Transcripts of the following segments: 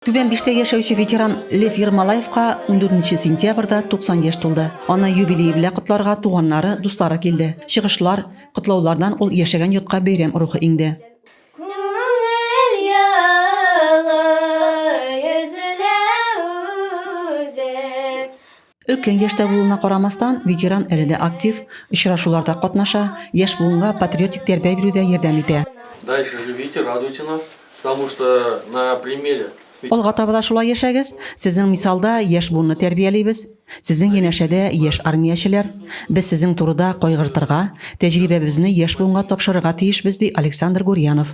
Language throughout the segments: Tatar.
Түбән Биштә яшәүче ветеран Лев Ермолаевка 14 сентябрьдә 90 яшь тулды. Аны юбилее белән котларга туганнары, дуслары килде. Чыгышлар, котлаулардан ул яшәгән йортка бәйрәм рухы иңде. Өлкән яшьтә булуына карамастан, ветеран әле дә актив, очрашуларда катнаша, яшь буынга патриотик тәрбия бирүдә ярдәм итә. Дальше живите, радуйте нас, потому что на примере. Алга таба да шулай яшәгез, сезнең мисалда яшь буынны тәрбиялибез. Сезнең янәшәдә яшь армиячеләр. Без сезнең турыда кайгыртырга, тәҗрибәбезне яшь буынга тапшырырга тиешбез, ди Александр Гурьянов.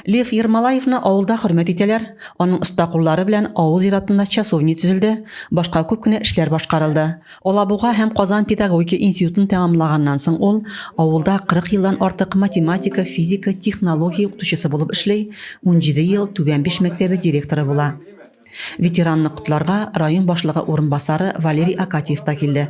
Лев Ермолаевны авылда хөрмәт итәләр, аның оста куллары белән авыл зиратында часовня төзелде, башка күп кенә эшләр башкарылды. Алабуга һәм Казан педагогика институтын тәмамлаганнан соң ул авылда 40 елдан артык математика, физика, технология укытучысы булып эшли, унҗиде ел Түбән Биш мәктәбе директоры була. Ветеранны котларга район башлыгы урынбасары Валерий Акатьев та килде.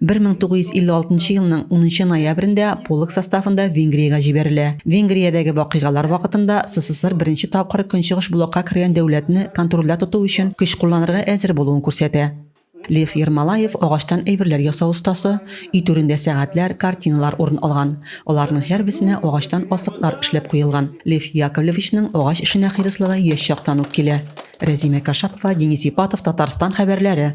1956 елның 10 ноябрендә полк составында Венгриягә җибәрелә. Венгриядәге вакыйгалар вакытында СССР беренче тапкыр Көнчыгыш блокка кергән дәүләтне контрольдә тоту өчен көч кулланырга әзер булуын күрсәтә. Лев Ермолаев агачтан әйберләр ясау остасы, өй түрендә сәгатьләр, картиналар урын алган. Аларның һәрбесенә агачтан асыклар эшләп куелган. Лев Яковлевичның агач эшенә хирыслыгы яшь чактан ук килә. Рәзимә Кашапова, Денис Ипатов, Татарстан хәбәрләре.